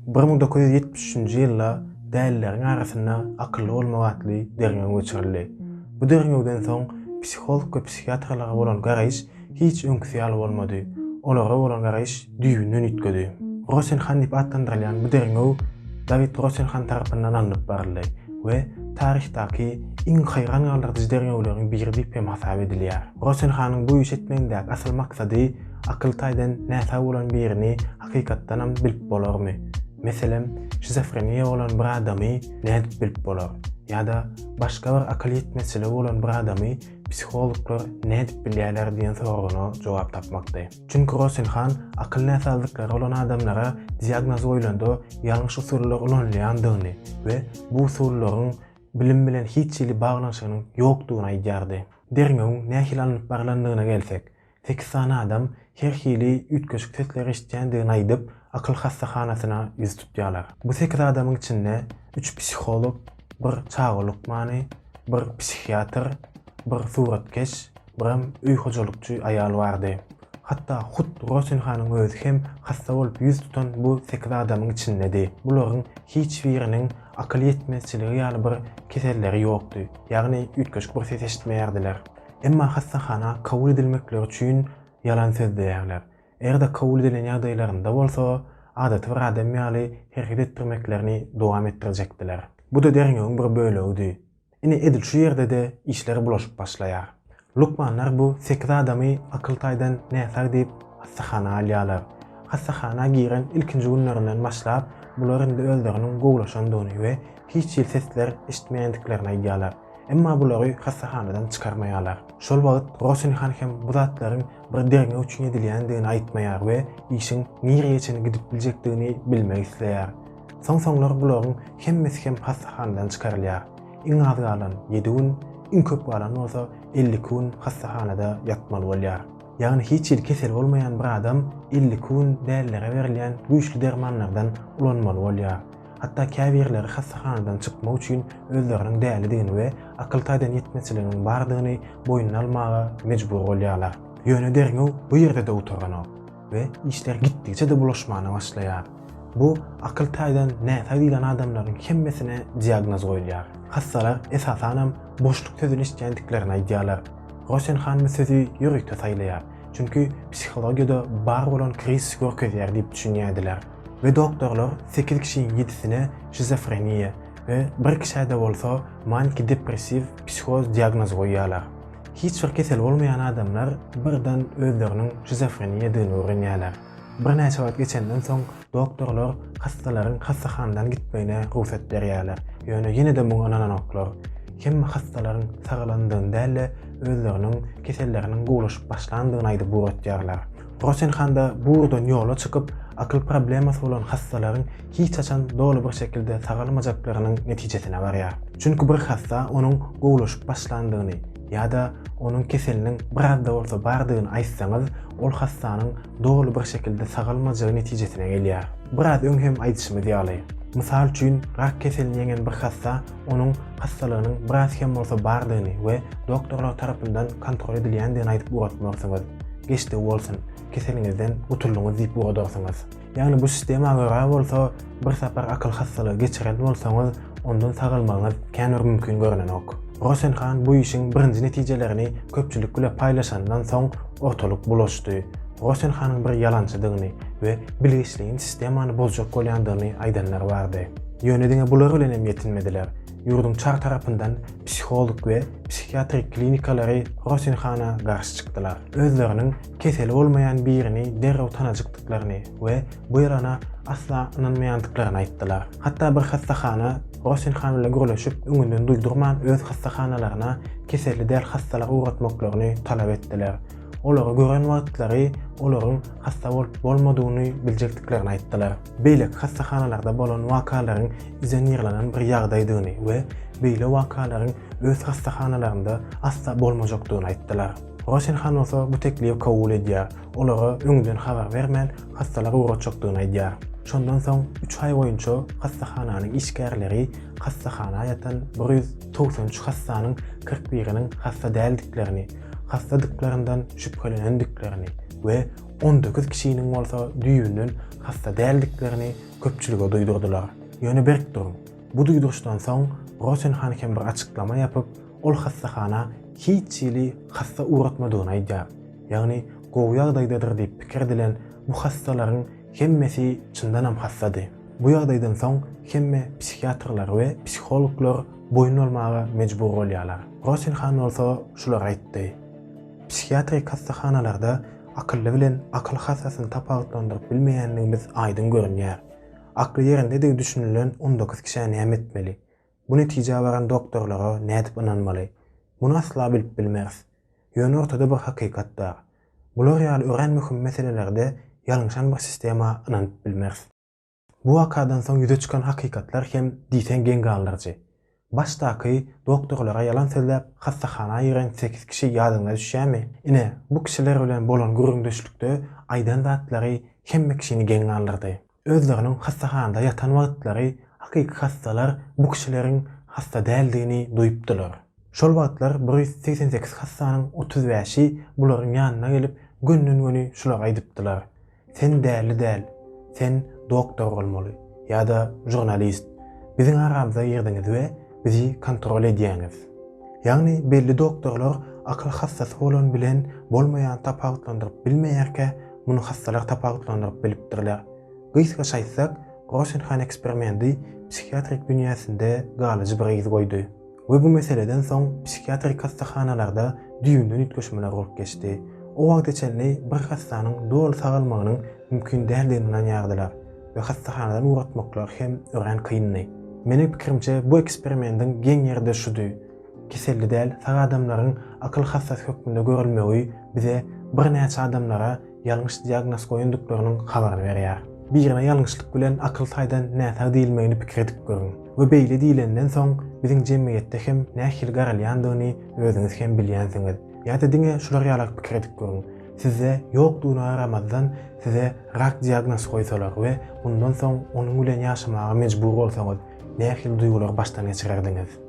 Bir müň dokuz ýüz ýetmiş üçünji ýylda dälileriň arasynda Akylly bolmak atly derňew geçirildi. Bu derňewden soň psiholog we psihiatrlara bolan garaýyş hiç öňküsi ýaly bolmady, olara bolan garaýyş düýbünden üýtgedi. Rosenhan diýip atlandyrylýan bu derňew Dawid Rosenhan tarapyndan alnyp baryldy we taryhdaky iň haýran galdyryjy derňewleriň biri diýip hem hasap edilýär. Rosenhanyň bu iş etmegindäki asyl maksady akyl taýdan näsag bolan birini Hakykatdanam bilip bolarmy? Meselem, şizofreniýa bolan bir adamy nädip bilip bolar? Ýa-da başga bir akyl ýetmezçiligi bolan bir adamy psihologlar nädip bilýärler diýen soragana jogap tapmakdy. Çünki Rosenhan akyl näsazlyklary bolan adamlara diagnoz goýlanda ýalňyş usullar ulanylýandygyny we bu usullaryň bilim bilen hiç hili baglanyşygynyň ýokdugyny aýdýardy. Derňewiň nähili alnyp barlandygyna gelsek, Sekiz sany adam her hili üýtgeşik sesleri eşitýändigini aýdyp, akyl hassahanasyna ýüz tutýarlar. Bu sekiz adamyň içinde üç psiholog, bir çaga lukmany, bir psihiatr, bir suratkeş, biram öý hojalykçy aýal bardy. Hatda hut Rosen hanyň özi hem hassa bolup ýüz tutan bu sekiz adamyň içindedi. Bularyň hiç biriniň akyl ýetmezçiligi ýaly bir keselleri ýokdy, ýagny üýtgeşik bir ses eşitmeýärdiler. Emma hassahana kabul edilmekleri üçin ýalan sözleýärler. Eger-de kabul edilen ýagdaýlarynda bolsa, adaty bir adam ýaly hereket etdirmeklerini dowam etdirjekdiler. Bu-da derňewiň bir bölegidi. Ine, edil şu ýerde-de işler bulaşyp başlaýar. Lukmanlar bu sekiz adamy akyl taýdan näsag diýip hassahana alýarlar. Hassahana giren ilkinji günlerinden başlap, bular indi özleriniň gowulaşandygyny we hiç hili sesler eşitmeýändiklerini aýdýarlar. Emma bulary hassahanadan çykarmaýarlar. Şol wagt Rosen han hem bu zatlaryň bir derňew üçin edilýändigini aýtmaýar we işiň nirege çenli gidip biljekdigini bilmek isleýär. Soň-soňlar bularyň hemmesi hem hassahanadan çykarylýar. Iň az galan ýedi gün, iň köp galan bolsa elli iki gün hassahanada ýatmaly bolýar. Ýagny hiç hili keseli bolmaýan bir adam elli iki gün dälilere berilýän güýçli dermanlardan ulanmaly bolýar. Hatda käbirleri hassahanadan çykmak üçin özleriniň dälidigini we akyl taýdan ýetmezçiliginiň bardygyny boýnuna almaga mejbur bolýarlar. Ýöne derňew bu ýerde-de gutaranok we işler gitdigiçe-de bulaşmana başlaýar. Bu akyl taýdan näsag diýlen adamlaryň hemmesine diagnoz goýulýar. Hassalar, esasanam, boşluk sözüni eşidýändiklerini aýdýarlar. Rosen han bu sözi ýörite saýlaýar, çünki psihologiýada bar bolan krizisi görkezýär diýip düşünýärdiler. we doktorlar sekiz kişiniň ýedisine şizofreniýa we bir kişä-de bolsa maniki-depressiw psihoz diagnozy goýýarlar. Hiç bir kesel bolmaýan adamlar birden özleriniň şizofreniýadygyny öwrenýärler. Birnäçe wagt geçenden soň doktorlar hassalaryň hassahanadan gitmegine rugsat berýärler, ýöne ýene-de muňa ynananoklar. Hemme hassalaryň sagalandygyny däl-de, özleriniň keselleriniň gowulaşyp başlandygyny aýdyp ugratýarlar. Rosenhan-da bu ugurdan ýola çykyp, akyl problemasy bolan hassalaryň hiç haçan doly bir şekilde sagalmajaklarynyň netijesine barýar. Çünki bir hassa onuň gowulaşyp başlandygyny ýa-da onuň keseliniň biraz-da bolsa bardygyny aýtsaňyz, ol hassanyň doly bir şekilde sagalmajagy netijesine gelýär. Biraz öň hem aýdyşymyz ýaly, mysal üçin, rak keselini ýeňen bir hassa onuň hassalygynyň biraz hem bolsa bardygyny we doktorlar tarapyndan kontrol edilýändigini aýdyp ugratmarsyňyz. Geçdi bolsun, keseliňizden gutuldyňyz diýip ugradarsyňyz. Ýagny bu sistema görä bolsa, bir sapar akyl hassalygy geçiren bolsaňyz, ondan sagalmagyňyz kän bir mümkin görnenok. Rosen han bu işiň birinji netijelerini köpçülik bile paýlaşandan soň ortalyk bulaşdy. Rosen hanyň bir ýalançydygyny we bilgiçligiň sistemany bozjak bolýandygyny aýdanlar bardy. Ýöne diňe bular bilen hem ýetinmediler. Ýurduň çar tarapyndan psiholog we psihiatrik klinikalary Rosenhana garşy çykdylar. Özleriniň keseli bolmaýan birini derrew tanajykdyklaryny we bu ýalana asla ynanmaýandyklaryny aýtdylar. Hatda bir hassahana Rosenhan bilen gürleşip, öňünden duýdurman öz hassahanalaryna keselli däl hassalary ugratmaklaryny talap etdiler. Olary gören wagtlary olaryň hassa bolup-bolmadygyny biljekdiklerini aýtdylar. beýleki hassahanalarda bolan wakalaryň izonirlenen bir ýagdaýdygyny we beýle wakalaryň öz hassahanalarynda asla bolmajakdygyny aýtdylar. Rosenhan bolsa bu teklibi kabul edýär, olara öňünden habar bermän hassalar ugratjakdygyny aýdýar. Şondan soň üç aý boýunça hassahananyň işgärleri hassahana ýatan bir ýüz togsan üç hassanyň kyrk biriniň hassa däldiklerini, hassadyklaryndan şübhelenendiklerini we on dokuz kişiniň bolsa düýbünden hassa däldiklerini köpçülige duýdurdylar. Ýöne berk duruň. Bu duýduryşdan soň Rosen han hem bir açyklama ýapyp, ol hassahana hiç hili hassa ugratmadygyny aýdýar. Ýagny gowy ýagdaýdadyr diýip pikir edilen bu hassalaryň hemmesi çyndanam hassady. Bu ýagdaýdan soň hemme psihiatrlar we psihologlar boýun bolmaga mejbur bolýarlar. Rosen han bolsa şulary aýtdy. Psihiatrik hassahanalarda akylly bilen akyl hassasyny tapawutlandyryp bilmeýändigimiz aýdyň görünýär. Akly ýerindedigi düşünilen on dokuz kişä näme etmeli? Bu netijä baran doktorlara nädip ynanmaly? Muny asla bilip bilmeris. Ýöne ortada bir hakykat bar. Bular ýaly örän möhüm meselelerde ýalňyşan bir sistema ynanyp bilmeris. Bu wakadan soň ýüze çykan hakykatlar hem diýseň geň galdyryjy. Başdaky doktorlara ýalan sözläp hassahana giren sekiz kişi ýadyňyza düşýärmi? Ine, bu kişiler bilen bolan gürrüňdeşlikde aýdan zatlary hemme kişini geň galdyrdy. Özleriniň hassahanada ýatan wagtlary hakyky hassalar bu kişileriň hassa däldigini duýupdylar. Şol wagtlar bir ýüz segsen sekiz hassanyň otuz bäşi bularyň ýanyna gelip gönden-göni şular aýdypdylar. Sen däli däl, sen doktor bolmaly, ýa-da žurnalist. Biziň aramyza girdiňiz we bizi kontrol edýäňiz. Ýagny belli doktorlar akyl hassasy bolan bilen bolmaýany tapawutlandyryp bilmeýärkä, muny hassalar tapawutlandyryp bilipdirler. Gysgaça aýtsak, Rosenhan eksperimendi psihiatrik dünýäsinde galyjy bir yz goýdy. we bu meseleden soň psihiatrik hassahanalarda düýbünden üýtgeşmeler bolup geçdi. O wagta çenli bir hassanyň doly sagalmagynyň mümkin däldigini ynanýardylar we hassahanadan ugratmaklar hem örän kyndy. Meniň pikirimçe bu eksperimendiň geň ýeri de şudy, keselli däl sag adamlaryň akyl hassasy hökmünde görülmegi bize birnäçe adamlara ýalňyş diagnoz goýandyklarynyň habaryny berýär. Birine ýalňyşlyk bilen akyl taýdan näsag diýilmegini pikir edip görüň we beýle diýlenden soň biziň jemgyýetde hem nähili garalýandygyny özüňiz hem bilýänsiňiz. Ýa-da diňe şular ýalak pikir edip görüň, sizde ýokdugyna garamazdan size rak diagnoz goýsalar we mundan soň onuň bilen ýaşamaga mejbur bolsaňyz, nähili duýgulary başdan geçirerdiňiz?